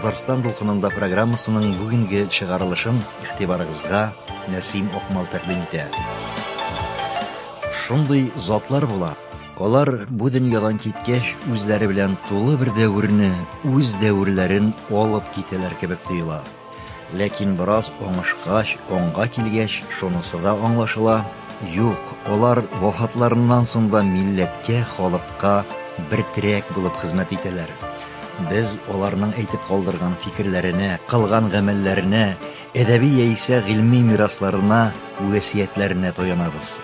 Татарстан дулкынында программасының бүгенге чыгарылышын игътибарыгызга Нәсим Акмал тәкъдим итә. Шундый затлар була, Алар бу дөньядан киткәч, үзләре белән тулы бер дәверне, үз дәверләрен алып китәләр кебек тоела. Ләкин бераз оңышкач, оңга килгәч, шунысы да аңлашыла, юк, алар вафатларыннан соң да милләткә, халыкка бер терәк булып хезмәт итәләр. Без аларның әйтеп калдырган фикерләренә, кылган гамәлләренә, әдәби яисә гыйльми мирасларына, вәсиятләренә таянабыз.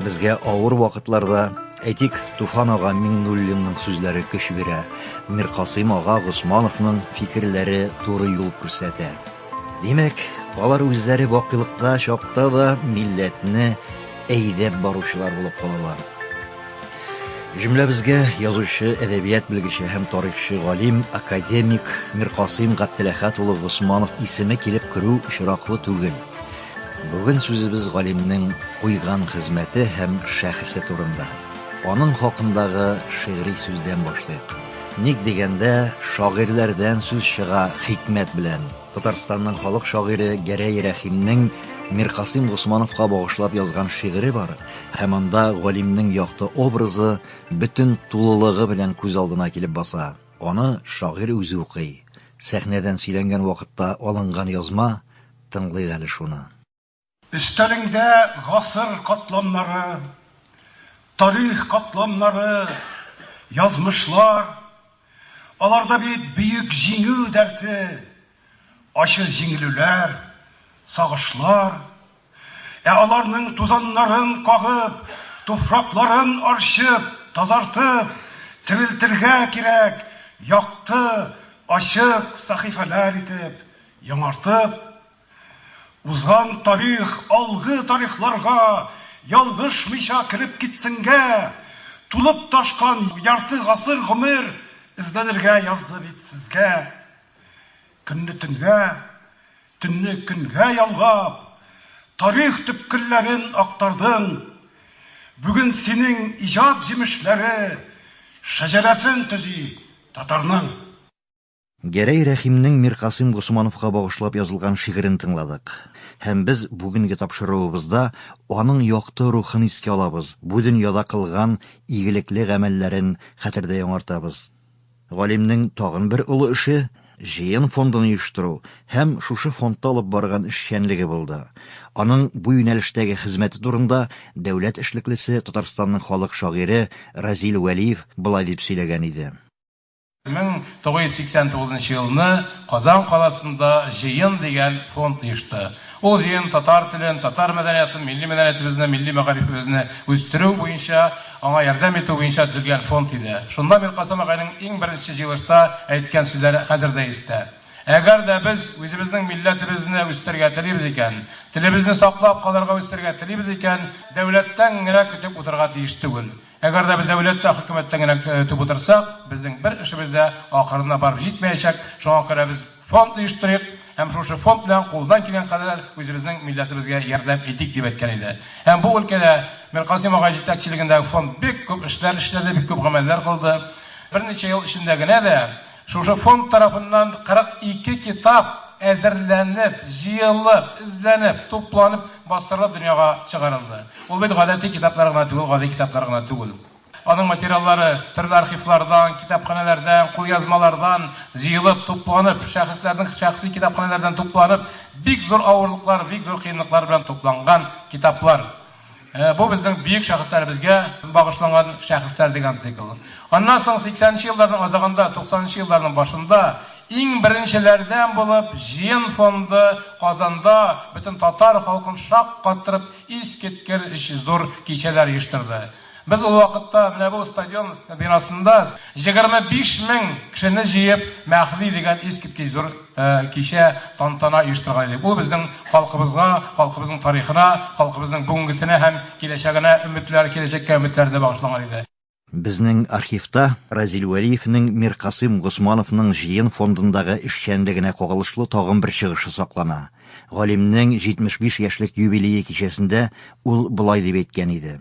Безгә авыр вакытларда, әйтик, Туфан ага Миңнуллинның сүзләре көч бирә, Миркасыйм ага Госмановның фикерләре туры юл күрсәтә. Димәк, алар үзләре бакыйлыкта чакта да милләтне әйдәп баручылар булып калалар. Җөмләбезгә язучы, әдәбият белгече һәм тарихчы галим, академик Миркасыйм Габделәхәт улы Госманов исеме килеп керү очраклы түгел. Бүген сүзебез галимнең куйган хезмәте һәм шәхесе турында. Аның хакындагы шигъри сүздән башлыйк. Ник дигәндә, шагыйрьләрдән сүз чыга хикмәт белән. Татарстанның халык шагыйре Гәрәй Рәхимнең Миркасыйм Госмановка багышлап язган шигыре бар, һәм анда галимнең якты образы бөтен тулылыгы белән күз алдына килеп баса. Аны шагыйрь үзе укый. Сәхнәдән сөйләнгән вакытта алынган язма, Тыңлыйк әле шуны. Өстәлеңдә гасыр катламнары, тарих катламнары, язмышлар. Аларда бит Бөек Җиңү дәрте, ачы җиңелүләр, сагышлар. Ә аларның тузаннарын кагып, туфракларын арчып, тазартып, терелтергә кирәк якты, ачык сәхифәләр итеп, Яңартып, узган тарих алгы тарихларга ялгышмыйча кереп китсенгә, тулып ташкан ярты гасыр гомер эзләнергә язды бит сезгә. Көнне төнгә, төнне көнгә ялгап, тарих төпкелләрен актардың. Бүген синең иҗат җимешләре шәҗәрәсен төзи татарның. Гәрәй Рәхимнең Миркасыйм Госмановка багышлап язылган шигырен тыңладык. Һәм без бүгенге тапшыруыбызда аның якты рухын искә алабыз, бу дөньяда кылган игелекле гамәлләрен хәтердә яңартабыз. Галимнең тагын бер олы эше, җыен фондын оештыру һәм шушы фондта алып барган эшчәнлеге булды. Аның бу юнәлештәге хезмәте турында дәүләт эшлеклесе, Татарстанның халык шагыйре Разил Вәлиев болай дип сөйләгән иде. 1989 нчы елны Казан каласында Җыен дигән фонд оешты. Ул җыен татар телен, татар мәдәниятын, милли мәдәниятебезне, милли мәгарифебезне үстерү буенча, аңа ярдәм итү буенча төзелгән фонд иде. Шунда Миркасыйм агайның иң беренче җыелышта әйткән сүзләре хәзер дә истә. Әгәр дә без үзебезнең милләтебезне үстерергә телибез икән, телебезне саклап калырга, үстерергә телибез икән, дәүләттән генә көтеп утырырга тиеш түгел. Әгәр дә без дәүләт тә, хөкүмәт тә генә көтеп утырсак, безнең бер эшебез дә ахырына барып җитмәячәк. Шуңа күрә без фонд оештырыйк һәм шушы фонд белән кулдан килгән кадәр үзебезнең милләтебезгә ярдәм итик, дип әйткән иде. Һәм бу өлкәдә Миркасыйм агай җитәкчелегендәге фонд бик күп эшләр эшләде, бик күп гамәлләр кылды. Берничә ел эчендә генә дә Шушы фонд тарафыннан 42 китап әзерләнеп, җыелып, эзләнеп, тупланып, бастырылып дөньяга чыгарылды. Ул бит гадәти китаплар гына түгел, гади китаплар гына түгел. Аның материаллары төрле архивлардан, китапханәләрдән, кулъязмалардан җыелып, тупланып, шәхесләрнең шәхси китапханәләрдән тупланып, бик зур авырлыклар, бик зур кыенлыклар белән тупланган китаплар. Бу безнең бөек шәхесләребезгә багышланган шәхесләр дигән цикл. Аннан соң сиксәненче елларның азагында, туксанынчы елларның башында иң беренчеләрдән булып җыен фонды Казанда бөтен татар халкын шаккаттырып искиткер-ич зур кичәләр оештырды. Без ул вакытта менә бу стадион бинасында җегерме биш мең кешене җыеп Мәһди дигән искиткеч зур кичә, тантана оештырган идек. Ул безнең халкыбызга, халкыбызның тарихына, халкыбызның бүгенгесенә һәм киләчәгенә өметләр, киләчәккә өметләрне багышлаган иде. Безнең архивта Разил Вәлиевнең Миркасыйм Госмановның җыен фондындагы эшчәнлегенә кагылышлы тагын бер чыгышы саклана. Галимнең 75 яшьлек юбилее кичәсендә ул болай дип әйткән иде.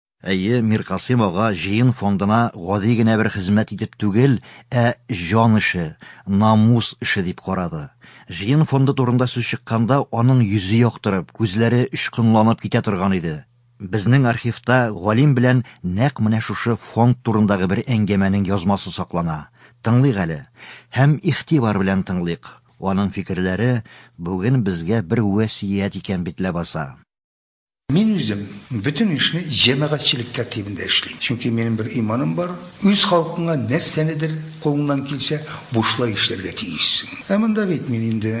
Әйе, Миркасыйм ага җыен фондына гади генә бер хезмәт итеп түгел, ә җан эше, намус эше дип карады. Җыен фонды турында сүз чыкканда, аның йөзе яктырып, күзләре очкынланып китә торган иде. Безнең архивта галим белән нәкъ менә шушы фонд турындагы бер әңгәмәнең язмасы саклана. Тыңлыйк әле. Һәм игътибар белән тыңлыйк. Аның фикерләре бүген безгә бер вәсият икән бит ләбаса. Мин үзем бөтен эшне җәмәгатьчелек тәртибендә эшлим. Чөнки минем бер иманым бар, үз халкыңа нәрсәнедер кулыңнан килсә бушлай эшләргә тиешсең. Ә монда бит мин инде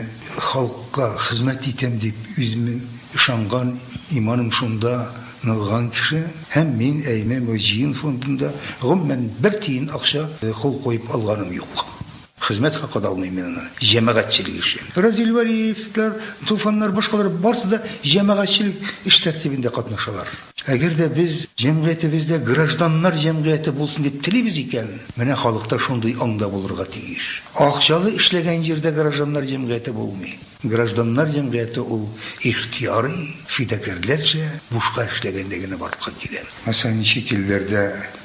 халыкка хезмәт итәм дип үземнең ышанган, иманым шунда ныгыган кеше. Һәм мин АИМЭ мөҗиин фондында гомумән бер тиен акча кул куеп алганым юк. Хезмәт хакы да алмыйм мин аны, җәмәгатьчелек эше. Разил Вәлиевләр, Туфаннар, башкалар барысы да җәмәгатьчелек эш тәртибендә катнашалар. Әгәр дә без җәмгыятебез дә гражданнар җәмгыяте булсын дип телибез икән, менә халык та шундый аңда булырга тиеш. Акчалы эшләгән җирдә гражданнар җәмгыяте булмый. Гражданнар җәмгыяте ул ихтыярый, фидакарьләрчә, бушка эшләгәндә генә барлыкка килә. Мәсәлән, чит илләрдә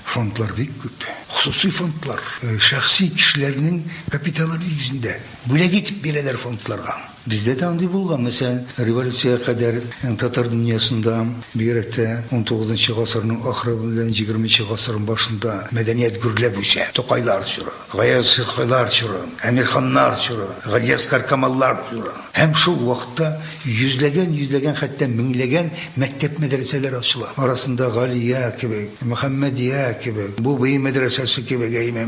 фондлар бик күп. Хосусый фондлар, шәхси кешеләрнең капиталы нигезендә бүләк итеп бирәләр фондларга. Бездә дә андый булган. Мәсәлән, революциягә кадәр татар дөньясында, бигрәк тә унтугызынчы гасырның ахыры белән егерменче гасырның башында мәдәният гөрләп үсә, Тукайлар чоры. Гаязханнар чоры, Әмирханнар чоры, Галиәскаркамаллар чоры һәм шул вакытта йөзләгән-йөзләгән, хәтта меңләгән мәктәп-мәдрәсәләр ачыла. Арасында Галия кебек, Мөхәммәдия кебек, Бубый мәдрәсәсе кебек, әйме,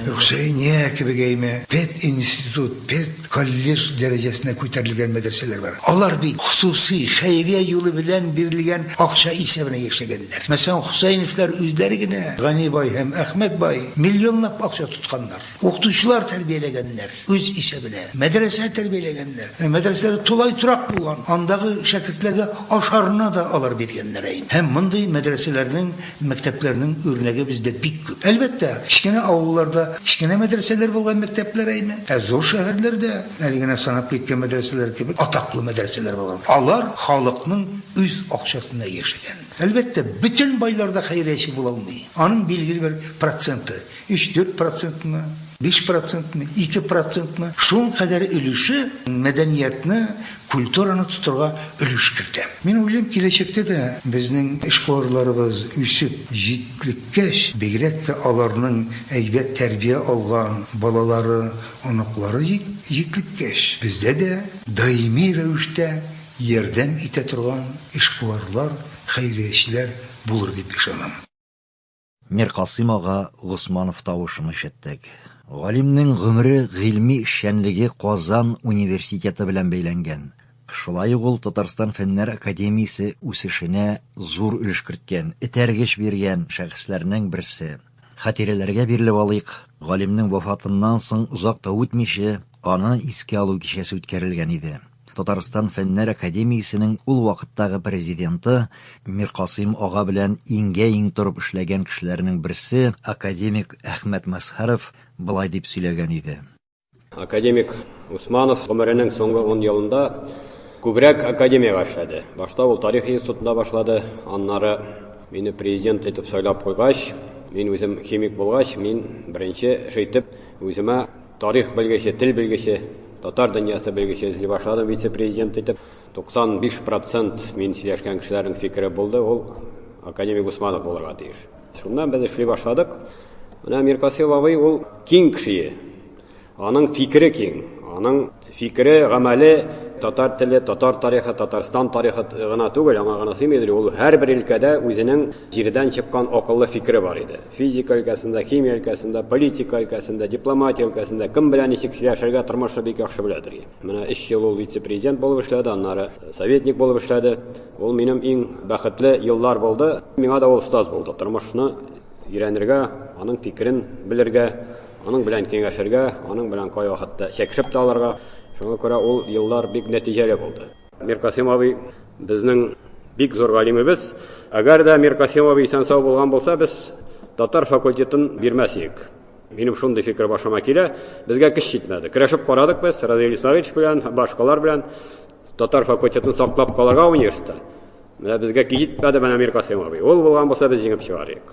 Хөсәения кебек, әйме, пединститут, пед. Колледж дәрәҗәсенә күтәрелгән мәдрәсәләр бар. Алар бит хосусый, хәйрия юлы белән бирелгән акча исәбенә яшәгәннәр. Мәсәлән, Хөсәеновлар үзләре генә, Гани бай һәм Әхмәт бай, миллионлап акча тотканнар. Укытучылар тәрбияләгәннәр, үз исәбенә. Мәдрәсә тәрбияләгәннәр. Мәдрәсәләре тулай торак булган. Андагы шәкертләргә ашарына да алар биргәннәр әйе. Һәм мондый мәдрәсәләрнең Мәктәпләрнең үрнәге бездә бик күп. Әлбәттә, кечкенә авылларда кечкенә мәдрәсәләр булган мәктәпләр әйме, ә зур шәһәрләрдә, әле генә санап киткән мәдрәсәләр кебек, атаклы мәдрәсәләр булган. Алар халыкның үз акчасына яшәгән. Әлбәттә, бөтен байлар да хәйрияче була алмый. Аның билгеле бер проценты, Өч-дүрт процентмы, биш процентмы, ике процентмы, шул кадәр өлеше мәдәниятне, культураны тотырга өлеш кертә. Мин уйлыйм, киләчәктә дә безнең эшкуарларыбыз үсеп җитлеккәч, бигрәк тә аларның әйбәт тәрбия алган балалары, оныклары җитлеккәч, бездә дә даими рәвештә ярдәм итә торган эшкуарлар, хәйриячеләр булыр дип ышанам. Миркасыйм ага Госманов тавышын ишеттек. Галимнең гомере, гыйльми эшчәнлеге Казан университеты белән бәйләнгән. Шулай ук ул Татарстан Фәннәр академиясе үсешенә зур өлеш керткән, этәргеч биргән шәхесләрнең берсе. Хатирәләргә бирелеп алыйк, галимнең вафатыннан соң озак та үтмичә, аны искә алу кичәсе үткәрелгән иде. Татарстан Фәннәр академиясенең ул вакыттагы президенты Миркасыйм ага белән иңгә-иң торып эшләгән кешеләрнең берсе академик Әхмәт Мәзһәров болай дип сөйләгән иде. Академик Усманов гомеренең соңгы ун елында күбрәк академиягә эшләде. Башта ул тарих институтында башлады, аннары мине президент итеп сайлап куйгач, мин үзем химик булгач, мин беренче эш итеп үземә Тарих белгече, тел белгече, татар дөньясы белгече эзли башладым вице-президент итеп. 95 процент мин сөйләшкән кешеләрнең фикере булды, ул академик Гусманов булырга тиеш. Шуннан без эшли башладык. Менә Миркасыйл абый ул киң кеше. Аның фикере киң, аның Фикере, гамәле татар теле, татар тарихы, Татарстан тарихы гына түгел, аңа гына сыймый иде, ул һәрбер өлкәдә үзенең җирдән чыккан акыллы фикере бар иде. Физика өлкәсендә, химия өлкәсендә, политика өлкәсендә, дипломатия өлкәсендә кем белән ничек сөйләшергә, тормышны бик яхшы белә ди. Менә өч ел ул вице-президент булып эшләде, аннары советник булып эшләде. Ул минем иң бәхетле еллар булды. Миңа да ул остаз булды, тормышны өйрәнергә, аның фикерен белергә. Аның белән киңәшергә, аның белән кайвакытта чәкешеп тә алырга. Шуңа күрә ул еллар бик нәтиҗәле булды. Миркасыйм абый, безнең бик зур галимебез. Әгәр дә Миркасыйм абый исән-сау булган булса, без татар факультетын бирмәс идек. Минем шундый фикер башыма килә. Безгә көч җитмәде. Көрәшеп карадык без Разил Исмәгыйлович белән, башкалар белән. Татар факультетын саклап калырга университетта. Менә безгә көч җитмәде, менә Миркасыйм абый. Ул булган булса, без җиңеп чыгар идек.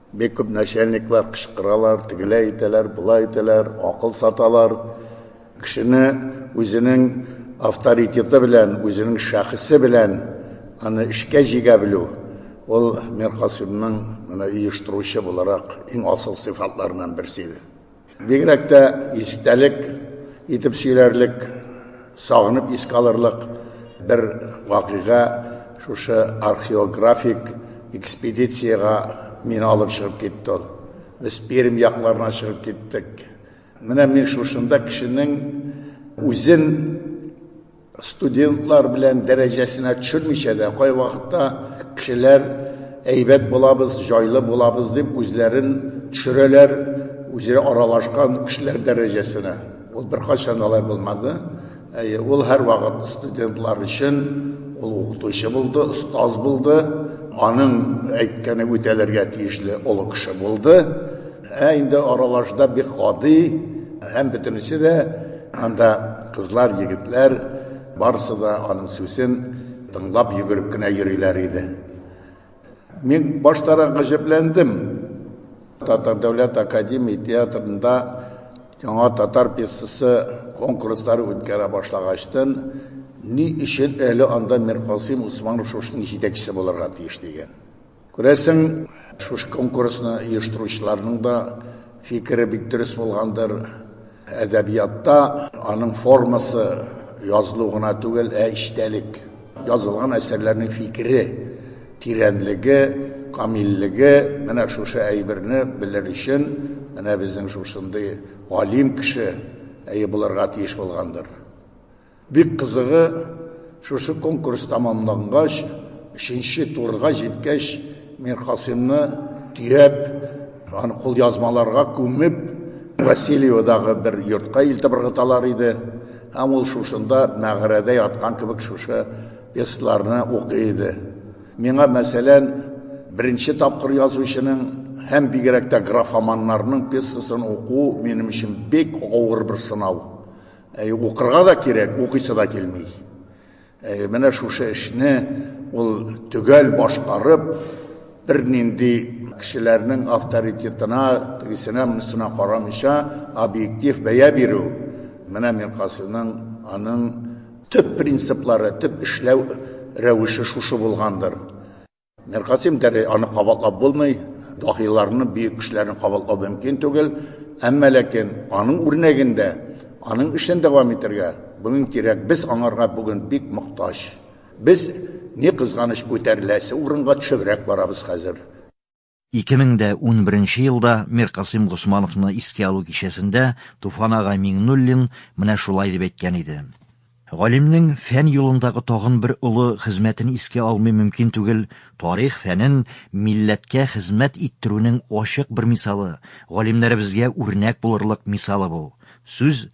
Бик күп начальниклар кычкыралар, тегеләй итәләр, болай итәләр, акыл саталар. Кешене үзенең авторитеты белән, үзенең шәхесе белән аны эшкә җигә белү, ул Миркасыймның менә оештыручы буларак иң асыл сыйфатларыннан берсе иде. Бигрәк тә истәлек итеп сөйләрлек, сагынып искә алырлык бер вакыйга шушы археографик экспедициягә мине алып чыгып китте ул. Без Пермь якларына чыгып киттек. Менә мин шушында кешенең үзен Студентлар белән дәрәҗәсенә төшермичә дә, кайвакытта кешеләр әйбәт булабыз, җайлы булабыз дип үзләрен төшерәләр, үзара аралашкан кешеләр дәрәҗәсенә. Ул беркайчан алай булмады. Әйе, ул һәрвакыт студентлар өчен ул укытучы булды, остаз булды, аның әйткәне үтәлергә тиешле олы кеше булды. Ә инде аралашуда бик гади һәм бөтенесе дә анда кызлар, егетләр барысы да аның сүзен тыңлап йөгереп кенә йөриләр иде. Мин баштарак гаҗәпләндем. Татар дәүләт академия театрында яңа татар пьесасы конкурслары үткәрә башлагачтын, ни өчен әле анда Миркасыйм Усманов шушының җитәкчесе булырга тиеш дигән. Күрәсең, шушы конкурсны оештыручыларның да фикере бик дөрес булгандыр. Әдәбиятта аның формасы язылу гына түгел, ә эчтәлек. Язылган әсәрләрнең фикере, тирәнлеге, камиллеге, менә шушы әйберне белер өчен, менә безнең шушындый галим кеше әйе булырга тиеш булгандыр. Бик кызыгы, шушы конкурс тәмамлангач, өченче турга җиткәч, Миркасыймны төяп, аны кулъязмаларга күмеп, Васильеводагы бер йортка илтеп ыргыталар иде. Һәм ул шушында, мәгарәдә яткан кебек, шушы пьесаларны укый иде. Миңа, мәсәлән, беренче тапкыр язучының һәм бигрәк тә графоманнарның пьесасын уку минем өчен бик авыр бер сынау. Әй, укырга да кирәк, укыйсы да килми. Әй, менә шушы эшне ул төгәл башкарып, бернинди кешеләрнең авторитетына, тегесенә, монысына карамыйча, объектив бәя бирү, менә Миркасыйның аның төп принциплары, төп эшләү рәвеше шушы булгандыр. Миркасыйм Гәрәй аны кабатлап булмый, даһиларны, бөек кешеләрне кабатлау мөмкин түгел. Әмма ләкин аның үрнәгендә, аның эшен дәвам итәргә бүген кирәк. Без аңарга бүген бик мохтаҗ. Без, ни кызганыч, күтәреләсе урынга төшебрәк барабыз хәзер. 2011 елда Миркасыйм Госмановны искә алу кичәсендә Туфан ага Миңнуллин менә шулай дип әйткән иде. Галимнең фән юлындагы тагын бер олы хезмәтен искә алмый мөмкин түгел, тарих фәнен милләткә хезмәт иттерүнең ачык бер мисалы, галимнәребезгә үрнәк булырлык мисалы бу. Сүз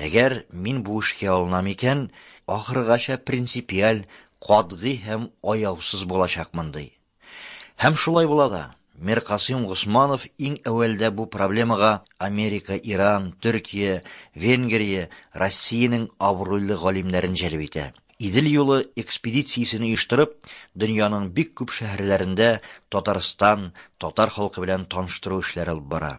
Әгәр мин бу эшкә алынам икән, ахыргача принципиаль, катгый һәм аяусыз булачакмын, ди. Һәм шулай була да. Миркасыйм Госманов иң әүвәлдә бу проблемага Америка, Иран, Төркия, Венгрия, Россиянең абруйлы галимнәрен җәлеп итә. Идел юлы экспедициясен оештырып, дөньяның бик күп шәһәрләрендә Татарстан, татар халкы белән таныштыру эшләре алып бара.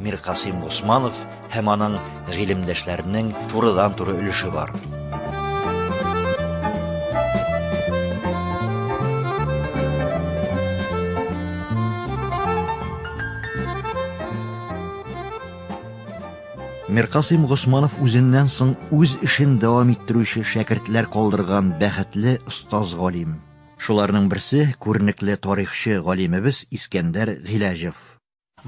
Миркасыйм Госманов һәм аның гыйлемдәшләренең турыдан-туры өлеше бар. Миркасыйм Госманов үзеннән соң үз эшен дәвам иттерүче шәкертләр калдырган бәхетле остаз галим. Шуларның берсе күренекле тарихчы галимебез Искәндәр Гыйләҗев.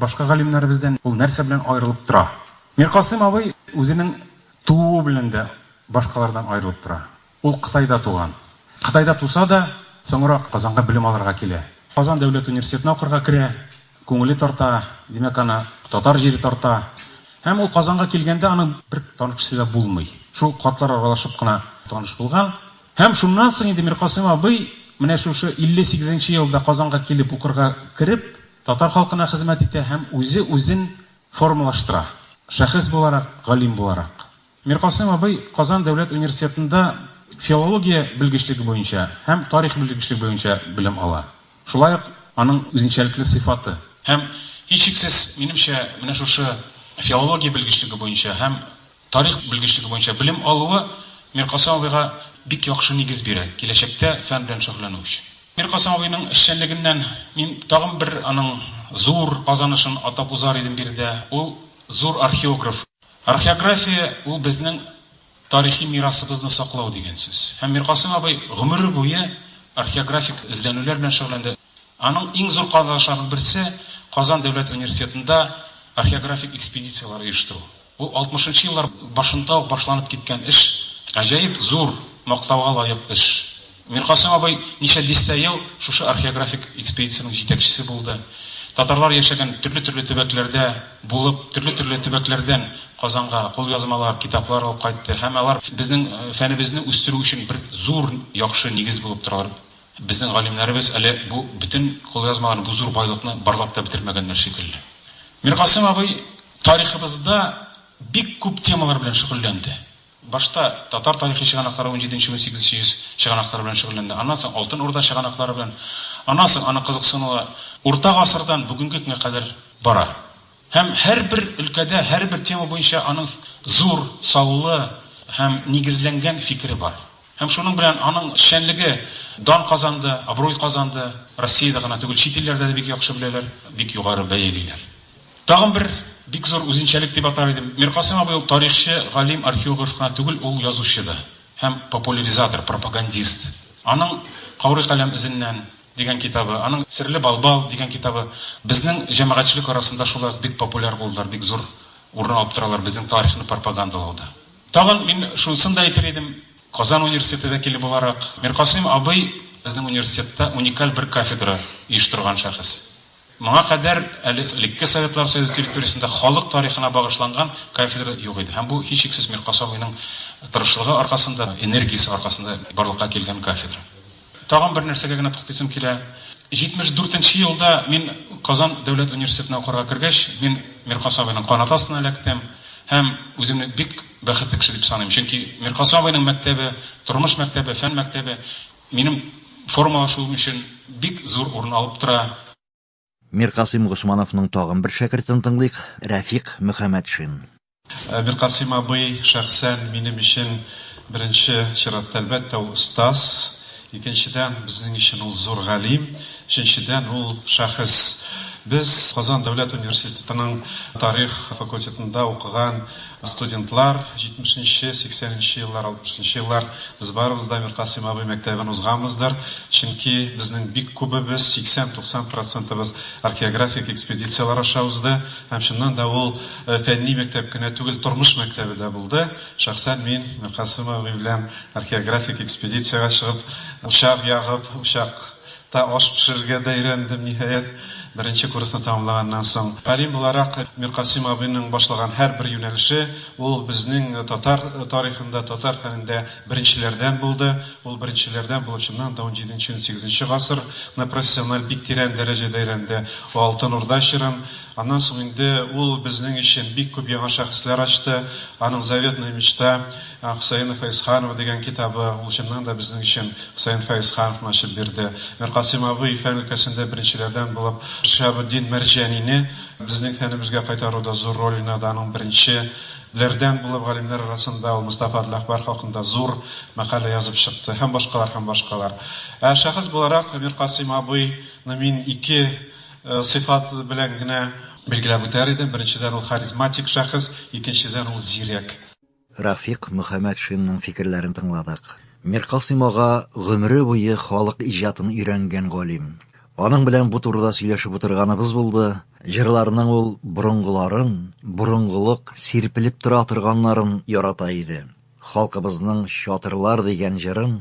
Башка галимнәребездән ул нәрсә белән аерылып тора? Миркасыйм абый үзенең тууы белән дә башкалардан аерылып тора. Ул Кытайда туган. Кытайда туса да, соңрак Казанга белем алырга килә. Казан дәүләт университетына укырга керә. Күңеле тарта, димәк, аны татар җире тарта. Һәм ул Казанга килгәндә аның бер танып кешесе дә булмый. Шул картлар аралашып кына таныш булган. Һәм шуннан соң инде Миркасыйм абый менә шушы 58 нче елда Казанга килеп укырга кереп, Татар халкына хезмәт итә һәм үзе үзен формалаштыра, шәхес буларак, галим буларак. Миркасыйм абый Казан дәүләт университетында филология белгечлеге буенча һәм тарих белгечлеге буенча белем ала. Шулай ук аның үзенчәлекле сыйфаты. Һәм, һичшиксез, минемчә, менә шушы филология белгечлеге буенча һәм Тарих белгечлеге буенча белем алуы Миркасыйм абыйга бик яхшы нигез бирә, киләчәктә фән белән шөгыльләнү өчен. Миркасыйм абыйның эшчәнлегеннән мин тагын бер аның зур казанышын атап узар идем биредә, ул, зур археограф. Археография, ул безнең тарихи мирасыбызны саклау дигән сүз. Һәм Миркасыйм абый гомере буе археографик эзләнүләр белән шөгыльләнде. Аның иң зур казанышларының берсе, Казан дәүләт университетында археографик экспедицияләр оештыру. Ул алтмышынчы еллар башында ук башланып киткән эш, гаҗәеп зур, мактауга лаек эш. Миркасыйм абый ничә дистә ел шушы археографик экспедициянең җитәкчесе булды. Татарлар яшәгән төрле-төрле төбәкләрдә булып, төрле-төрле төбәкләрдән Казанга кулъязмалар, китаплар алып кайтты һәм алар безнең фәнебезне үстерү өчен бер зур яхшы нигез булып торалар. Безнең галимнәребез әле бу бөтен кулъязмаларны, бу зур байлыкны барлап та бетермәгәннәр шикелле. Миркасыйм абый тарихыбызда бик күп темалар белән шөгыльләнде. Башта татар тарихи чыганаклары унҗиденче-унсигезенче йөз чыганаклары белән шөгыльләнде, аннан соң Алтын Урда чыганаклары белән, аннан соң аның кызыксынуы Урта гасырдан бүгенге көнгә кадәр бара. Һәм һәрбер өлкәдә, һәрбер тема буенча аның зур, саллы һәм нигезләнгән фикере бар. Һәм шуның белән аның эшчәнлеге дан казанды, абруй казанды. Россиядә гына түгел, чит илләрдә дә бик яхшы беләләр, бик югары бәялиләр. Тагын бер бик зур үзенчәлек дип атар идем, Миркасыйм абый ул тарихчы, галим, археограф кына түгел, ул язучы да һәм популяризатор, пропагандист. Аның каурый каләм эзеннән, дигән китабы, аның Серле балбал дигән китабы безнең җәмәгатьчелек арасында шулай ук бик популяр булдылар, бик зур урын алып торалар безнең тарихны пропагандалауда. Тагын мин шунысын да әйтер идем, Казан университеты вәкиле буларак, Миркасыйм абый безнең университетта уникаль бер кафедра оештырган шәхес. Моңа кадәр әле элекке Советлар Союзы территориясендә халык тарихына багышланган кафедра юк иде. Һәм бу, һичшиксез, Миркасый абыйның тырышлыгы аркасында, энергиясе аркасында барлыкка килгән кафедра. Тагын бер нәрсәгә генә туктыйсым килә. 74 нче елда мин Казан дәүләт университетына укырга кергәч, мин Миркас абыйның канаты астына эләктем һәм үземне бик бәхетле кеше дип саныйм. Чөнки Миркас абыйның мәктәбе, тормыш мәктәбе, фән мәктәбе минем формалашуым өчен бик зур урын алып тора. Миркасыйм Госмановның тагын бер шәкертен тыңлыйк, Рәфикъ Мөхәммәтшин. Миркасыйм абый шәхсән минем өчен беренче чиратта, әлбәттә, ул остаз, икенчедән, безнең өчен ул зур галим, өченчедән, ул шәхес. Без Казан дәүләт университетының тарих факультетында укыган, Студентлар, җитмешенче, сиксәненче еллар, алтмышынчы еллар без барыбыз да Миркасыйм абый мәктәбен узганбыздыр, чөнки безнең бик күбебез, 80-90 процентыбыз археографик экспедицияләр аша узды. Һәм чыннан да ул фәнни мәктәп кенә түгел, тормыш мәктәбе дә булды. Шәхсән мин Миркасыйм абый белән археографик экспедициягә чыгып, учак ягып, учак Та аш пешерергә дә өйрәндем, ниһаять, беренче курсны тәмамлаганнан соң. Галим буларак, Миркасыйм абыйның башлаган һәрбер юнәлеше, ул безнең татар тарихында, татар фәнендә беренчеләрдән булды. Ул беренчеләрдән булып, чыннан да, унҗиденче-унсигезенче гасырны профессиональ бик тирән дәрәҗәдә өйрәнде. Ул Алтын Урда чорын. Аннан соң инде ул безнең өчен бик күп яңа шәхесләр ачты. Аның Заветная мечта. Ә Хөсәен Фәезханов дигән китабы, ул чыннан да безнең өчен Хөсәен Фәезхановны ачып бирде. Миркасыйм абый фән өлкәсендә беренчеләрдән булып Шиһабетдин Мәрҗанине безнең фәнебезгә кайтаруда зур роль уйнады, аның беренче ләрдән булып галимнәр арасында ул Мостафа Адләхбар хакында зур мәкалә язып чыкты һәм башкалар һәм башкалар. Ә шәхес буларак Миркасыйм абый ны мин ике сыйфат белән генә билгеләп үтәр идем, беренчедән ул харизматик шәхес, икенчедән ул зирәк. Рафик Мөхәммәтшинның фикерләрен тыңладык. Миркасыйм ага гомере буе халык иҗатын өйрәнгән галим. Аның белән бу турыда сөйләшеп утырганыбыз булды. Җырларының ул борынгыларын, борынгылык сирпелеп тора торганнарын ярата иде. Халкыбызның Чатырлар дигән җырын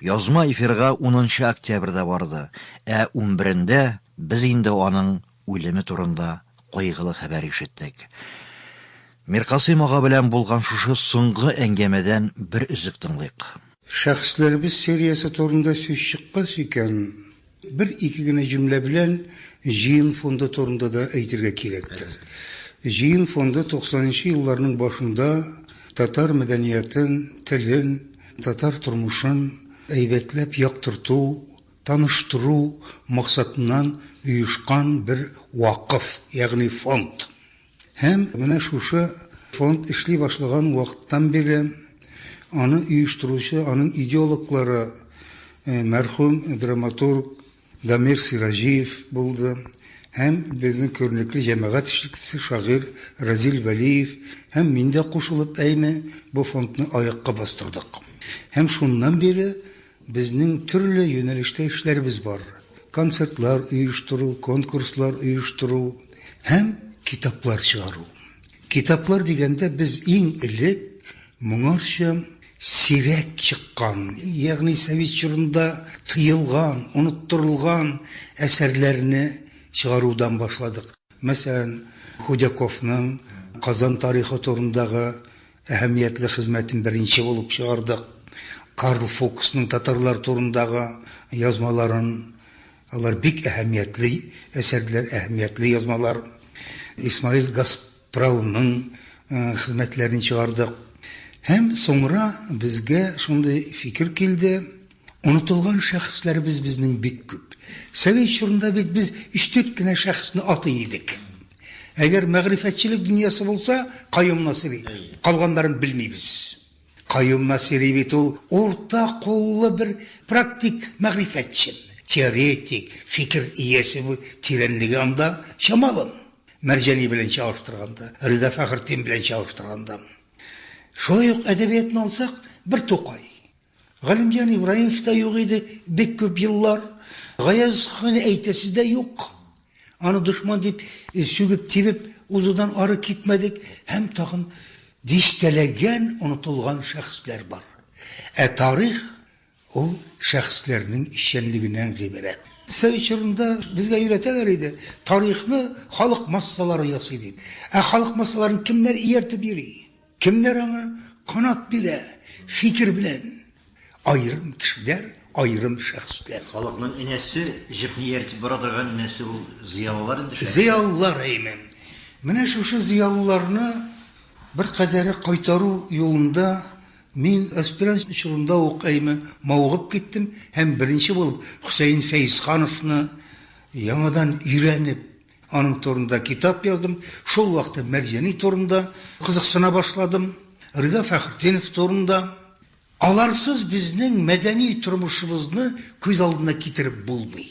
Язма эфирга унынчы октябрьдә барды, ә унберендә без инде аның үлеме турында кайгылы хәбәр ишеттек. Миркасыйм ага белән булган шушы соңгы әңгәмәдән бер өзек тыңлыйк. Шәхесләребез сериясе турында сүз чыккач икән, Бер-ике генә җөмлә белән җыен фонды турында да әйтергә кирәктер. Җыен фонды туксанынчы елларның башында татар мәдәниятен, телен, татар тормышын әйбәтләп яктырту, таныштыру максатыннан оешкан бер вакыф, ягъни фонд. Һәм менә шушы фонд эшли башлаган вакыттан бирле аны оештыручы, аның идеологлары мәрхүм драматург Дамир Сираҗиев булды һәм безнең күренекле җәмәгать эшлеклесе, шагыйрь Разил Вәлиев һәм мин дә кушылып әйме бу фондны аякка бастырдык. Һәм шуннан бире Безнең төрле юнәлештә эшләребез бар, концертлар оештыру, конкурслар оештыру һәм китаплар чыгару. Китаплар дигәндә, без иң элек моңарчы сирәк чыккан, ягъни совет чорында тыелган, оныттырылган әсәрләрне чыгарудан башладык. Мәсәлән, Худяковның Казан тарихы турындагы. Әһәмиятле хезмәтен беренче булып чыгардык. Карл Фуксның татарлар турындагы язмаларын, алар бик әһәмиятле әсәрләр, әһәмиятле язмалар. Исмаил Гаспралның хезмәтләрен чыгардык. Һәм соңра безгә шундый фикер килде, Онытылган шәхесләребез безнең бик күп. Совет чорында бит без өч-дүрт кенә шәхесне атый идек. Әгәр мәгърифәтчелек дөньясы булса, Каюм Насыйри. Калганнарын белмибез. Каюм Насыйри бит ул урта куллы бер практик мәгърифәтче, теоретик, фикер иясе, бу тирәнлеге анда чамалы. Мәрҗани белән чагыштырганда, Рида Фәхретдин белән чагыштырганда. Шулай ук әдәбиятны алсак, бер Тукай. Галимҗан Ибраимов та юк иде бик күп еллар. Гаяз ханы әйтәсе дә юк. Аны дошман дип э, сүгеп-тибеп узудан ары китмәдек һәм тагын дистәләгән онытылган шәхесләр бар. Ә тарих ул шәхесләрнең эшчәнлегеннән гыйбарәт. Совет чорында безгә өйрәтәләр иде, тарихны халык массалары ясый дип. Ә халык массаларын кемнәр ияртеп йөри? Кемнәр аңа канат бирә фикер белән? Аерым кешеләр, аерым шәхесләр. Халыкның энесе, җепне ияртеп бара торган энесе ул зыялылар инде, шәхесләр. Зыялылар, әйме. Менә шушы зыялыларны беркадәре кайтару юлында мин аспирант чорында ук, әйме, мавыгып киттем һәм беренче булып Хөсәен Фәезхановны яңадан өйрәнеп, Аның турында китап яздым. Шул вакытта Мәрҗани турында кызыксына башладым. Риза Фәхретдинов турында. Аларсыз безнең мәдәни тормышыбызны күз алдына китереп булмый.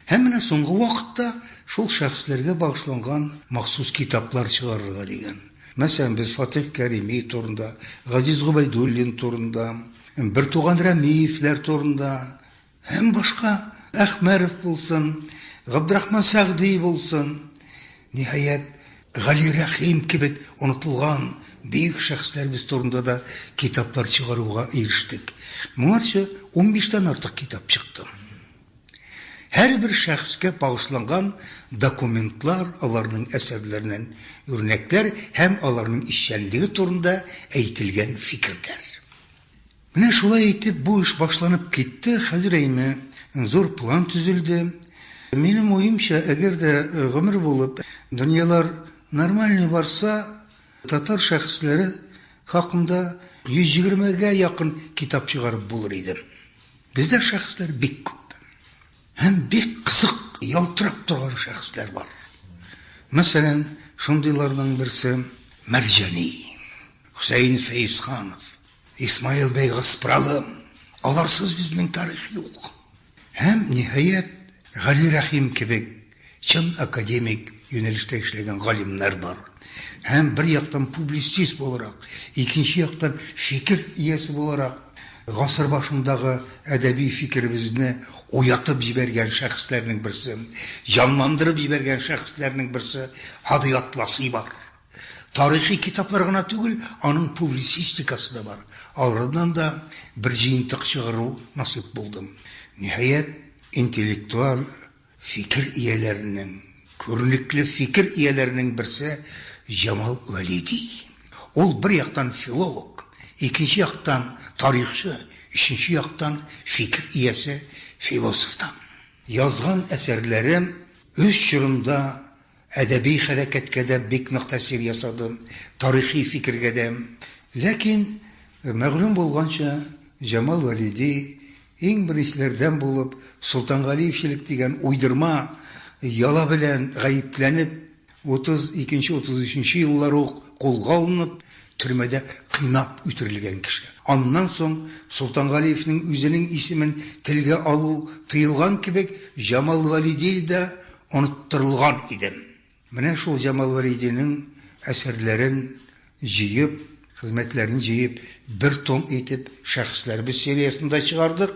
Һәм менә соңгы вакытта шул шәхесләргә багышланган махсус китаплар чыгарырга дигән. Мәсәлән, без Фатих Кәрими турында, Газиз Губайдуллин турында, бертуган Рәмиевләр турында, Һәм башка, Әхмәров булсын, Габдрахман Сәгъди булсын, ниһаять, Гали Рәхим кебек онытылган бөек шәхесләребез турында да китаплар чыгаруга ирештек. Моңарчы унбиштән артык китап чыкты. Һәрбер шәхескә багышланган документлар, аларның әсәрләреннән үрнәкләр һәм аларның эшчәнлеге турында әйтелгән фикерләр. Менә шулай итеп бу эш башланып китте, хәзер әйме, зур план төзелде. Минем уемча, әгәр дә гомер булып дөньялар нормальный барса, татар шәхесләре хакында 120 гә якын китап чыгарып булыр иде. Бездә шәхесләр бик күп. Һәм бик кызык, ялтырап торган шәхесләр бар. Мәсәлән, шундыйларның берсе, Мәрҗани, Хөсәен Фәезханов. Исмаил бәй Гаспралым, аларсыз безнең тарих юк. Һәм, ниһаять, Гали Рәхим кебек чын академик юнәлештә эшләгән галимнәр бар. Һәм бер яктан публицист буларак, икенче яктан фикер иясе буларак, гасыр башындагы әдәби фикеребезне уятып җибәргән шәхесләрнең берсе, җанландырып җибәргән шәхесләрнең берсе Һади Атласый бар. Тарихи китаплар гына түгел, аның публицистикасы да бар. Алардан да бер җыентык чыгару насыйп булды. Ниһаять, интеллектуаль фикер ияләренең, күренекле фикер ияләренең берсе Җамал Вәлиди. Ул бер яктан филолог, икенче яктан тарихчы, өченче яктан фикер иясе, философ та. Язган әсәрләре үз чорында Әдәби хәрәкәткә дә бик нык тәэсир ясады, тарихи фикергә дә. Ләкин, мәгълүм булганча, Җамал Вәлиди, иң беренчеләрдән булып, Солтангалиевчелек дигән уйдырма яла белән гаепләнеп, 32 нче-33 нче еллар ук кулга алынып, төрмәдә кыйнап үтерелгән кеше. Аннан соң, Солтангалиевнең үзенең исемен телгә алу тыелган кебек, Җамал Вәлиди да оныттырылган идем. Менә шул Җамал Вәлидинең әсәрләрен җыеп, хезмәтләрен җыеп, бер том итеп Шәхесләребез сериясендә чыгардык.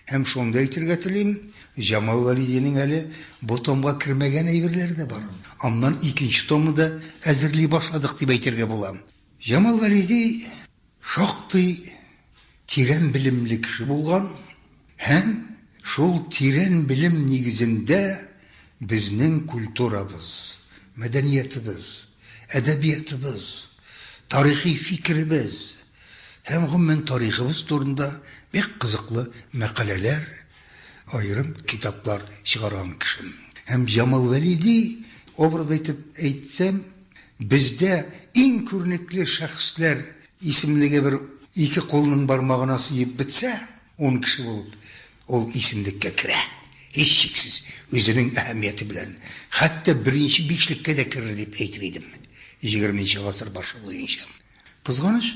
Һәм шуны да әйтергә телим, Җамал Вәлидинең әле бу томга кермәгән әйберләре дә бар. Аннан икенче томны да әзерли башладык дип әйтергә була. Җамал Вәлиди. Шактый тирән белемле кеше булган һәм шул тирән белем нигезендә безнең культурабыз, мәдәниятебез, әдәбиятыбыз, тарихи фикеребез һәм гомумән тарихыбыз турында бик кызыклы мәкаләләр, аерым китаплар чыгарган кеше. Һәм Җамал Вәлиди образы итеп әйтсәм, Бездә иң күренекле шәхесләр исемлеге бер ике кулның бармагына сыеп бетсә, ун кеше булып, ул исемлеккә керә. Һичшиксез, үзенең әһәмияте белән, хәтта беренче бишлеккә дә керер дип әйтер идем, егерменче гасыр башы буенча. Кызганыч,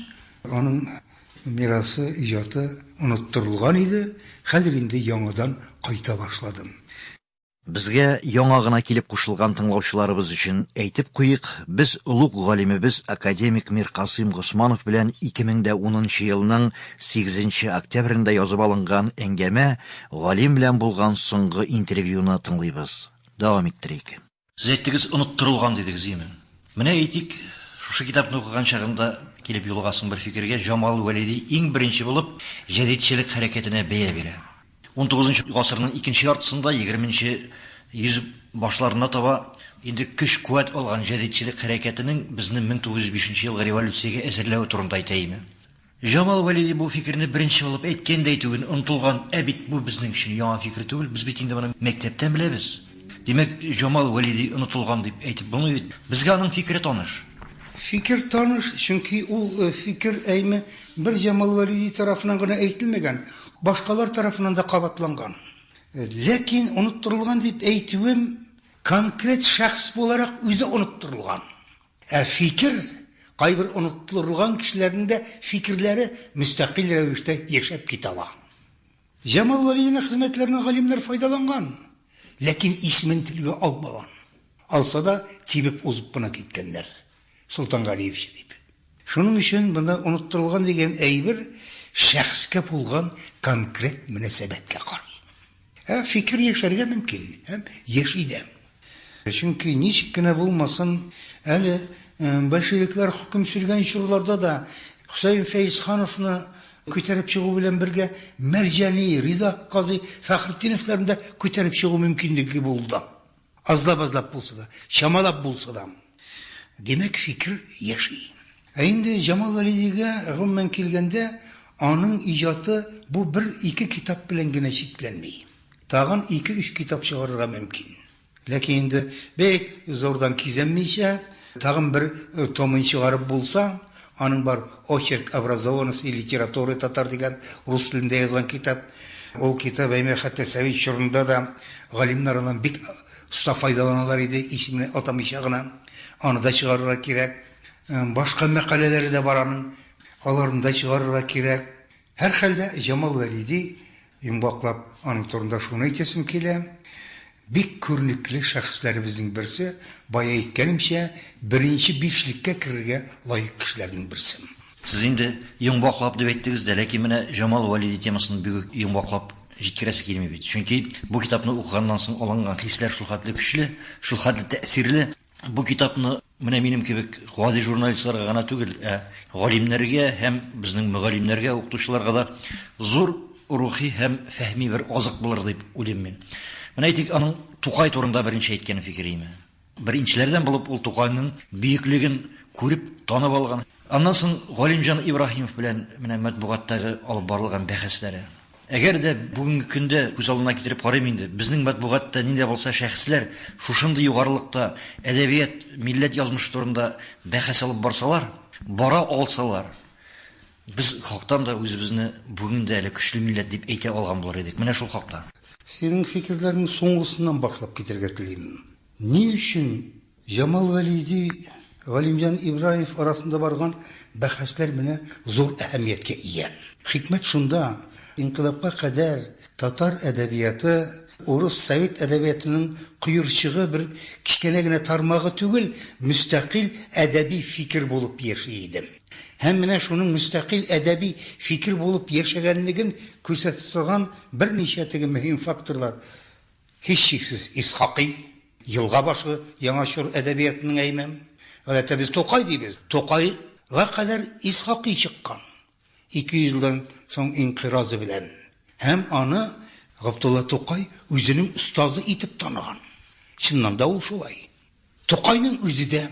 аның мирасы, иҗаты оныттырылган иде, хәзер инде яңадан кайта башладым. Безгә яңа гына килеп кушылган тыңлаучыларыбыз өчен әйтеп куйыйк, без олуг галимебез академик Миркасыйм Госманов белән 2010 нчы елның 8 нче октябрендә язып алынган әңгәмә, галим белән булган соңгы интервьюны тыңлыйбыз. Дәвам иттерик. Сез әйттегез, оныттырылган дидегез, имин. Менә әйтик, шушы китапны укыган чагында килеп юлыгасың бер фикергә, Җамал Вәлиди иң беренче булып җәдитчелек хәрәкәтенә бәя бирә. Унтугызынчы гасырның икенче яртысында, егерменче йөз башларына таба инде көч-куәт алган җәдитчелек хәрәкәтенең безне 1905 елгы революциягә әзерләве турында әйтәйме? Җамал Вәлиди бу фикерне беренче булып әйткән дә әйтүен онытылган, ә бит бу безнең өчен яңа фикер түгел, без бит инде моны мәктәптән беләбез. Димәк, Җамал Вәлиди онытылган дип әйтеп булмый бит. Безгә аның фикере таныш. Фикер таныш, чөнки ул фикер әйме бер Җамал Вәлиди тарафыннан гына әйтелмәгән, башкалар тарафыннан да кабатланган. Ләкин оныттырылган дип әйтүем, конкрет шәхес буларак үзе оныттырылган. Ә фикер, кайбер оныттырылган кешеләрнең дә фикерләре мөстәкыйль рәвештә яшәп китә ала. Җамал Вәлиевнең хезмәтләреннән галимнәр файдаланган, ләкин исемен телгә алмаган. Алса да, тибеп узып кына киткәннәр, Солтангалиевчы дип. Шуның өчен монда оныттырылган дигән әйбер шәхескә булган конкрет мөнәсәбәткә карый. Ә фикер яшәргә мөмкин һәм яши дә. Чөнки, ничек кенә булмасын, әле большевиклар хөкем сөргән чорларда да Хөсәен Фәезхановны күтәреп чыгу белән бергә Мәрҗани, Риза казый Фәхретдиновларны да күтәреп чыгу мөмкинлеге булды. Азлап-азлап булса да, чамалап булса да. Димәк, фикер яши. Ә инде Җамал Вәлидигә, гомумән килгәндә, аның иҗаты бу бер-ике китап белән генә чикләнми. Тагын ике-өч китап чыгарырга мөмкин. Ләкин инде бик зурдан кизәнмичә, тагын бер томын чыгарып булса, аның бар Очерк образованности литературы татар дигән рус телендә язган китап. Ул китап, әйме, хәтта совет чорында да галимнәр аннан бик оста файдаланалар иде, исемен атамыйча гына. Аны да чыгарырга кирәк. Башка мәкаләләре дә бар аның. Аларны да чыгарырга кирәк. Һәрхәлдә, Җамал Вәлиди, йомгаклап, аның турында шуны әйтәсем килә, бик күренекле шәхесләребезнең берсе, бая әйткәнемчә, беренче бишлеккә керергә лаек кешеләрнең берсе. Сез инде йомгаклап дип әйттегез дә, ләкин менә Җамал Вәлиди темасын бик үк йомгаклап җиткерәсе килми бит. Чөнки бу китапны укыганнан соң алынган хисләр шулхәтле көчле, шулхәтле тәэсирле. Бу китапны Менә минем кебек гади журналистларга гына түгел, ә галимнәргә һәм безнең мөгаллимнәргә, укытучыларга да зур рухи һәм фәһми бер азык булыр дип уйлыйм мин. Менә әйтик, аның Тукай турында беренче әйткән фикереме? Беренчеләрдән булып ул Тукайның бөеклеген күреп, танып алган. Аннан соң Галимҗан Ибраһимов белән менә матбугаттагы алып барылган бәхәсләре. Әгәр дә бүгенге көндә күз алдына китереп карыйм инде, безнең матбугатта нинди дә булса шәхесләр шушындый югарылыкта әдәбият, милләт язмышы турында бәхәс алып барсалар, бара алсалар, без хактан да үзебезне бүген дә әле көчле милләт дип әйтә алган булыр идек. Менә шул хакта. Синең фикерләрнең соңгысыннан башлап китәргә телим. Ни өчен Җамал Вәлиди, Галимҗан Ибраев арасында барган бәхәсләр менә зур әһәмияткә ия. Хикмәт шунда, инкыйлабка кадәр татар әдәбияты урыс совет әдәбиятының коерчыгы, бер кечкенә генә тармагы түгел, мөстәкыйль әдәби фикер булып яши иде. Һәм менә шуның мөстәкыйль әдәби фикер булып яшәгәнлеген күрсәтә торган берничә теге мөһим факторлар, Һичшиксез, Исхакый, елга башы, Яңа чор әдәбиятының әймәм. Гадәттә без Тукай дибез. Тукайга кадәр Исхакый чыккан, ике йөз елдан соң инкыйразы белән. Һәм аны Габдулла Тукай үзенең остазы итеп таныган. Чыннан да ул шулай. Тукайның үзе дә.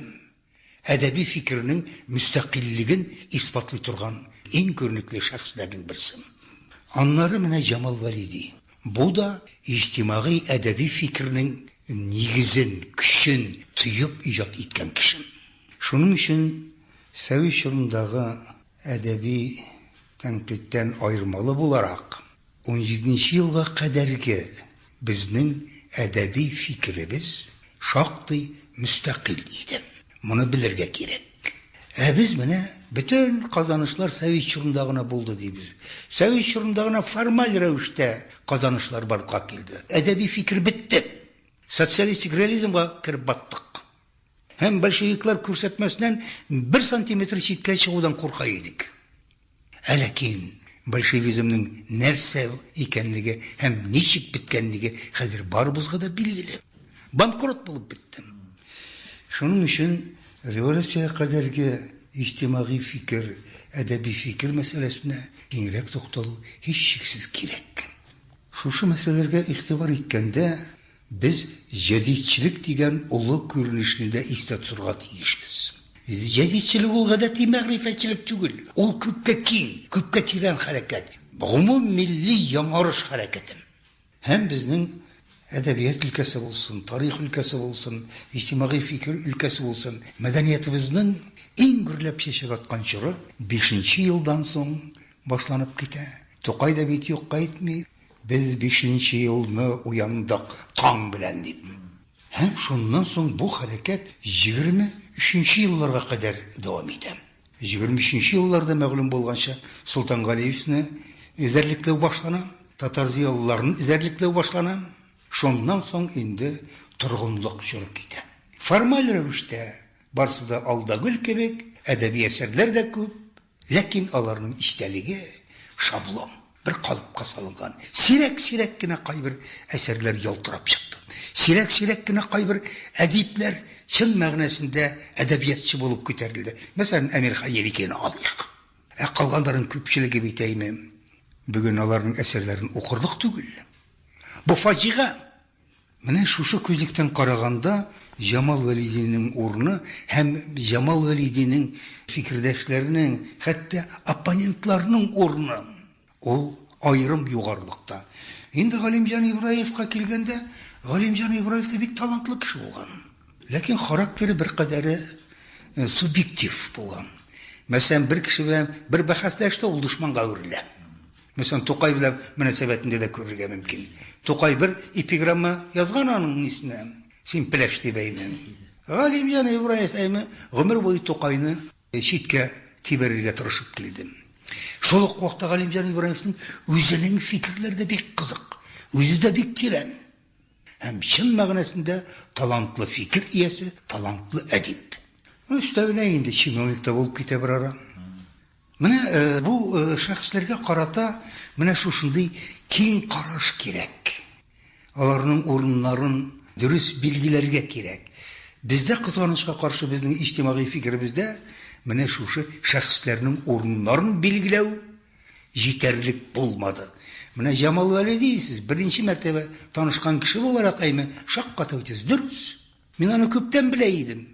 әдәби фикернең мөстәкыйльлеген исбатлый торган иң күренекле шәхесләрнең берсе. Аннары менә Җамал Вәлиди. Бу да иҗтимагый әдәби фикернең нигезен, көчен тоеп иҗат иткән кеше. Шуның өчен совет чорындагы әдәби Тәнкыйтьтән аермалы буларак, унҗиденче елга кадәрге безнең әдәби фикеребез шактый мөстәкыйль иде. Моны белергә кирәк. Ә без менә бөтен казанышлар совет чорында гына булды дибез. Совет чорында гына формаль рәвештә казанышлар барлыкка килде. Әдәби фикер бетте. Социалистик реализмга кереп баттык. Һәм большевиклар күрсәтмәсеннән бер сантиметр читкә чыгудан курка идек. Ә ләкин большевизмның нәрсә икәнлеге һәм ничек беткәнлеге хәзер барыбызга да билгеле. Банкрот булып беттем. Шуның өчен революциягә кадәрге иҗтимагый фикер, әдәби фикер мәсьәләсенә киңрәк тукталу һичшиксез кирәк. Шушы мәсьәләләргә игътибар иткәндә, Без җәдитчелек дигән олы күренешне дә истә тотырга тиешбез. Җәдитчелек ул гадәти мәгърифәтчелек түгел, ул күпкә киң, күпкә тирән хәрәкәт, гомуммилли яңарыш хәрәкәте. Һәм безнең әдәбият өлкәсе булсын, тарих өлкәсе булсын, иҗтимагый фикер өлкәсе булсын, мәдәниятебезнең иң гөрләп чәчәк аткан чоры бишенче елдан соң башланып китә. Тукай да бит юкка әйтми, Без бишенче елны уяндык таң белән, дип. Һәм шуннан соң бу хәрәкәт егерме өченче елларга кадәр дәвам итә. Егерме өченче елларда, мәгълүм булганча, Солтангалиевны эзәрлекләү башлана, татар-зыялыларын эзәрлекләү башлана. Шуннан соң инде торгынлык чоры китә. Формаль рәвештә барысы да алда гөл кебек, әдәби әсәрләр дә күп, Ләкин аларның истәлеге шаблон, бер калыпка салынган. Сирәк-сирәк кенә кайбер әсәрләр ялтырап чыкты. Сирәк-сирәк кенә кайбер әдипләр чын мәгънәсендә әдәбиятчы булып күтәрелде. Мәсәлән, Әмирхан Еникене алыйк. Ә калганнарның күпчелеге бит, әйме, бүген аларның әсәрләрен укырлык түгел. Бу фаҗига. Менә шушы күзлектән караганда Җамал Вәлидинең урыны һәм Җамал Вәлидинең фикердәшләренең, хәтта оппонентларының урыны, ул аерым югарылыкта. Инде Галимҗан Ибраевка килгәндә, Галимҗан Ибраев та бик талантлы кеше булган. Ләкин характеры беркадәре субъектив булган. Мәсәлән, бер кеше белән бер бәхәсләште, ул дошманга әверелә. Монысын Тукай белән мөнәсәбәтендә дә күрергә мөмкин. Тукай бер эпиграмма язган аның нисенә, Син пеләш дип әйме. Галимҗан Ибраев әйме, гомер буе Тукайны читкә тибәрергә тырышып килдем. Шул ук вакытта Галимҗан Ибраевның үзенең фикерләре дә бик кызык, үзе дә бик тирән һәм чын мәгънәсендә талантлы фикер иясе, талантлы әдип. Өстәвенә инде чиновник та булып китә берара. Менә бу шәхесләргә карата менә шушындый киң караш кирәк. Аларның урыннарын дөрес билгеләргә кирәк. Бездә, кызганычка каршы, безнең иҗтимагый фикеребездә менә шушы шәхесләрнең урыннарын билгеләү җитәрлек булмады. Менә Җамал Вәли дисез, беренче мәртәбә танышкан кеше буларак әйме, шаккатыу итәсез. Дөрес. Мин аны күптән белә идем,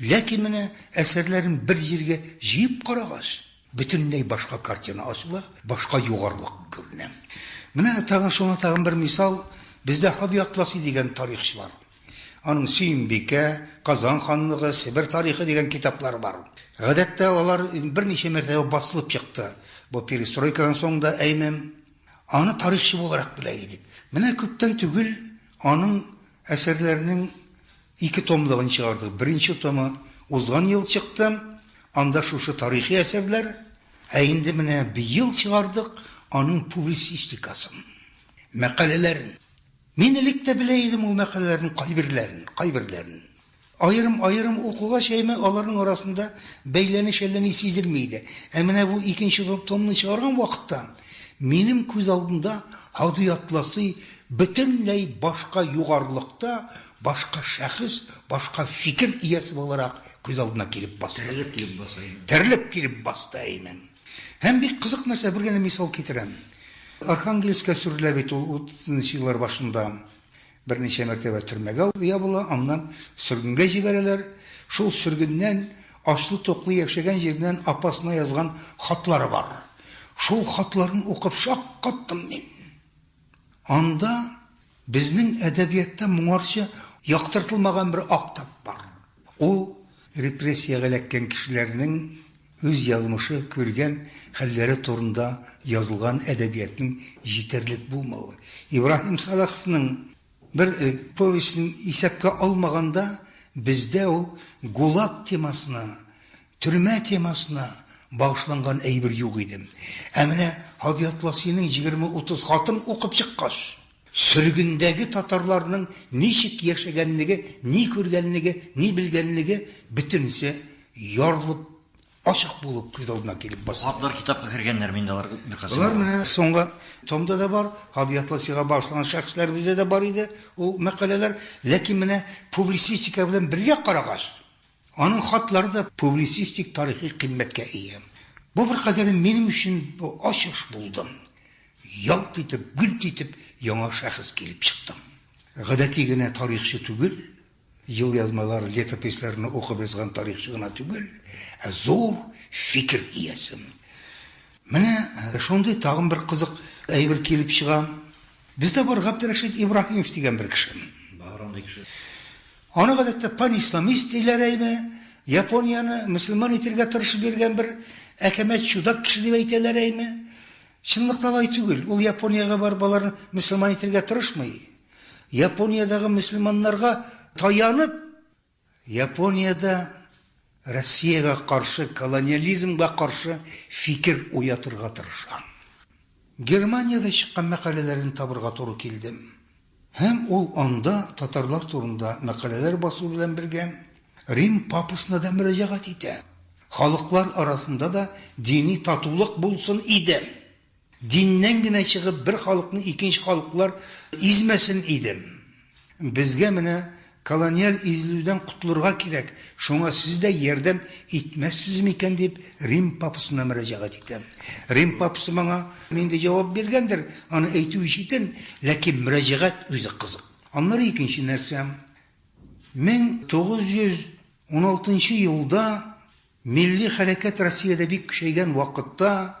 ләкин менә әсәрләрен бер җиргә җыеп карагач, бөтенләй башка картина ачыла, башка югарылык күренә. Менә тагын шуңа тагын бер мисал, бездә Һади Атласи дигән тарихчы бар. Аның Сөембикә, Казан ханлыгы, Себер тарихы дигән китаплары бар. Гадәттә, алар берничә мәртәбә басылып чыкты. Бу перестройкадан соң да әйме. Аны тарихчы буларак белә идек. Менә күптән түгел аның Әсәрләрнең ике томлыгын чыгардык. Беренче томы узган ел чыкты, анда шушы тарихи әсәрләр, ә инде менә быел чыгардык аның публицистикасын, мәкаләләрен. Мин элек тә белә идем ул мәкаләләрнең кайберләрен, кайберләрен. Аерым-аерым укуга чәймә аларның арасында бәйләнеш әллә ни сизелми иде. Ә менә бу икенче томны чыгарган вакытта минем күз алдында Һади Атласый бөтенләй башка югарылыкта, башка шәхес, башка фикер иясе буларак күз алдына килеп басты. Терелеп килеп баса имем. Терелеп килеп басты имем. Һәм бик кызык нәрсә, бер генә мисал китерәм. Архангельскка сөрелә бит ул утызынчы еллар башында. Берничә мәртәбә төрмәгә ябыла, аннан сөргенгә җибәрәләр. Шул сөргеннән ачлы-туклы яшәгән җиреннән апасына язган хатлары бар. Шул хатларын укып шаккаттым мин. Анда безнең әдәбиятта моңарчы яктыртылмаган бер актап бар. Ул репрессиягә эләккән кешеләрнең Үз язмышы, күргән хәлләре турында язылган әдәбиятның җитәрлек булмавы, Ибраһим Сәлаховның бер повестен исәпкә алмаганда, бездә ул ГУЛАГ темасына, төрмә темасына багышланган әйбер юк иде. Ә менә Һади Атласиның егерме-утыз хатын укып чыккач. Сөргендәге татарларның ничек яшәгәнлеге, ни күргәнлеге, ни белгәнлеге бөтенесе ярылып, ачык булып күз алдына килеп баса. Хатлар китапка кергәннәрме инде алар бер кысымы? Болар менә соңгы томда да бар, Һадият Ласига багышланган шәхесләребездә дә бар иде ул мәкаләләр. Ләкин менә публицистика белән бергә карагач, Аның хатлары да публицистик тарихи кыйммәткә ия. Бу беркадәре минем өчен бу ачыш булды. Ялт итеп, гөлт итеп яңа шәхес килеп чыктым. Гадәти генә тарихчы түгел, елъязмалар, летописләрне укып язган тарихчы гына түгел, ә зур фикер иясе. Менә шундый тагын бер кызык әйбер килеп чыга. Бездә бар Габдрәшит Ибраһимов дигән бер кеше. Бар андый кеше. Аны гадәттә панисламист диләр әйме, Японияне мөселман итергә тырышып йөргән бер әкәмәт чудак кеше дип әйтәләр әйме. Чынлыкта алай түгел, ул Япониягә барып аларны мөселман итергә тырышмый. Япониядәге мөселманнарга таянып, Япониядә Россиягә каршы, колониализмга каршы фикер уятырга тырышам. Германиядә чыккан мәкаләләрен табырга туры килдем. Һәм ул анда татарлар турында мәкаләләр басу белән бергә, Рим папасына да мөрәҗәгать итә. Халыклар арасында да дини татулык булсын иде! Диннән генә чыгып бер халыкны икенче халыклар измәсен иде. Безгә менә колониаль изелүдән котылырга кирәк, шуңа сез дә ярдәм итмәссез микән дип Рим папасына мөрәҗәгать итәм. Рим папасы моңа нинди җавап биргәндер, аны әйтү ишетен, ләкин мөрәҗәгать үзе кызык. Аннары икенче нәрсә, 1916 елда Милли хәрәкәт Россиядә бик көчәйгән вакытта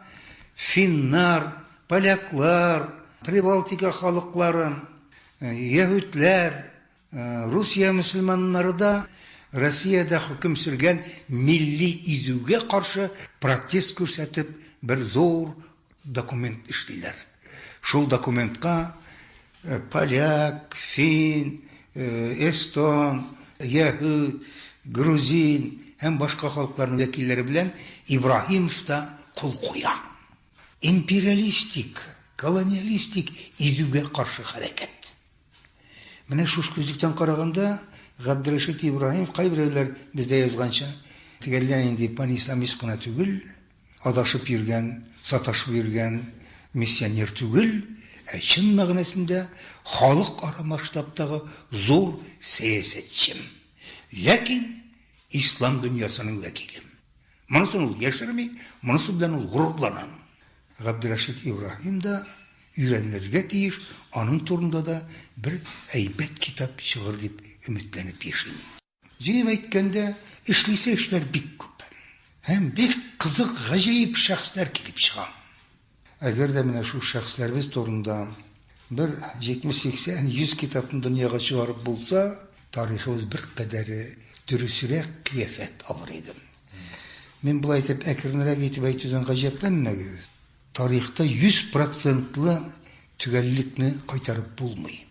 финнар, поляклар, Прибалтика халыклары, яһүдләр, Русия мөселманнары да Россиядә хөкем сөргән милли изүгә каршы протест күрсәтеп бер зур Документ эшлиләр. Шул документка поляк, фин, эстон, яһүд, грузин һәм башка халыкларның вәкилләре белән Ибраһимов та кул куя. Империалистик, колониалистик изүгә каршы хәрәкәт. Менә шушы күзлектән караганда Габдрәшит Ибраһимов кайберәүләр бездә язганча тегеллән инде панисламист кына түгел, адашып йөргән, саташып йөргән миссионер түгел, ә чын мәгънәсендә халыкара масштабтагы зур сәясәтчем. Ләкин ислам дөньясының вәкилем. Монысын ул яшерми, монысы белән ул горурлана. Габдрәшит Ибраһим да өйрәнелергә тиеш, аның турында да бер әйбәт китап чыгыр дип өметләнеп яшим. Җыеп әйткәндә, эшлисе эшләр бик күп. Һәм бик кызык, гаҗәеп шәхесләр килеп чыга. Әгәр дә менә шул шәхесләребез турында бер 70-80, 100 китапны дөньяга чыгарып булса, тарихыбыз беркадәре дөресрәк кыяфәт алыр иде. Мин болай әйтеп, әкренрәк итеп әйтүдән гаҗәпләнмәгез. Тарихта 100 процентлы төгәллекне кайтарып булмый.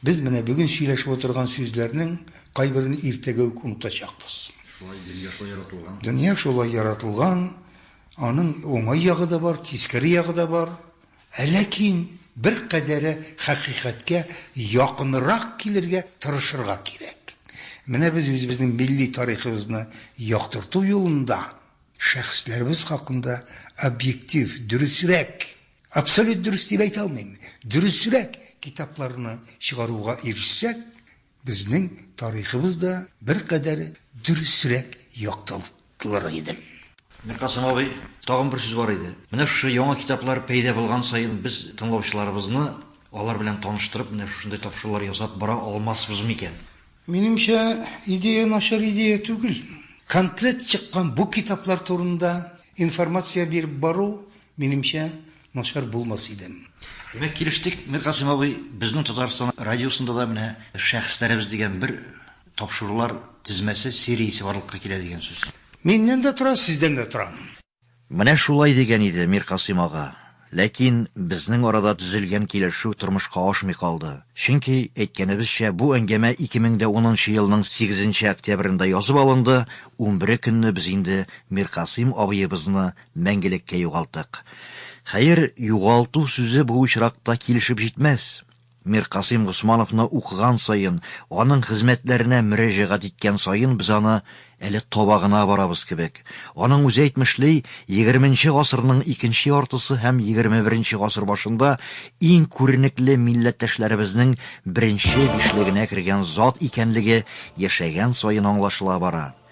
Без менә бүген сөйләшеп утырган сүзләрнең кайберен иртәгә үк онытачакбыз. Шулай, дөнья шулай яратылган. Дөнья шулай яратылган, аның уңай ягы да бар, тискәре ягы да бар. Ә ләкин беркадәре хакыйкатькә якынрак килергә тырышырга кирәк. Менә без үзебезнең милли тарихыбызны яктырту юлында шәхесләребез хакында объектив, дөресрәк, Абсолют дөрес дип әйтә алмыйм. Дөресрәк китапларны чыгаруга ирешсәк, безнең тарихыбыз да беркадәр дөресрәк яктылыр иде. Миркасыйм абый, тагын бер сүз бар иде. Менә шушы яңа китаплар пәйда булган саен без тыңлаучыларыбызны алар белән таныштырып, менә шушындай тапшырулар ясап бара алмасбыз микән? Минемчә, идея начар идея түгел. Конкрет чыккан бу китаплар турында информация биреп бару Минемчә, начар булмас идем. Димәк, килештек, Миркасыйм абый, безнең Татарстан радиосында да менә Шәхесләребез дигән бер тапшырулар тезмәсе, сериясе барлыкка килә дигән сүз. Миннән дә тора, сездән дә тора. Менә шулай дигән иде Миркасыйм ага. Ләкин безнең арада төзелгән килешү тормышка ашмый калды. Чөнки, әйткәнебезчә, бу әңгәмә 2010 нчы елның сигезенче октябрендә язып алынды, унбере көнне без инде Миркасыйм абыебызны мәңгелеккә югалтык. Хәер, югалту сүзе бу очракта килешеп җитмәс. Миркасыйм Госмановны укыган саен, аның хезмәтләренә мөрәҗәгать иткән саен без аны әле таба гына барабыз кебек. Аның үзе әйтмешли, егерменче гасырның икенче яртысы һәм егерме беренче гасыр башында иң күренекле милләттәшләребезнең беренче бишлегенә кергән зат икәнлеге яшәгән саен аңлашыла бара.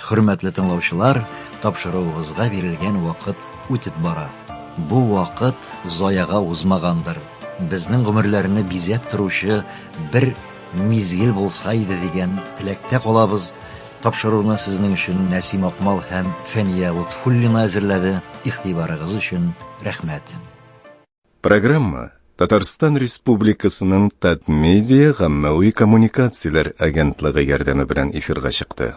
Хөрмәтле тыңлаучылар, тапшыруыгызга бирелгән вакыт үтеп бара. Бу вакыт заяга узмагандыр, безнең гомерләрне бизәп торучы бер мизгел булса иде дигән теләктә калабыз. Тапшыруны сезнең өчен Нәсим Акмал һәм Фәния Лотфуллина әзерләде. Игътибарыгыз өчен рәхмәт. Программа Татарстан Республикасының Татмедиа гаммәви коммуникацияләр агентлыгы ярдәме белән эфирга чыкты.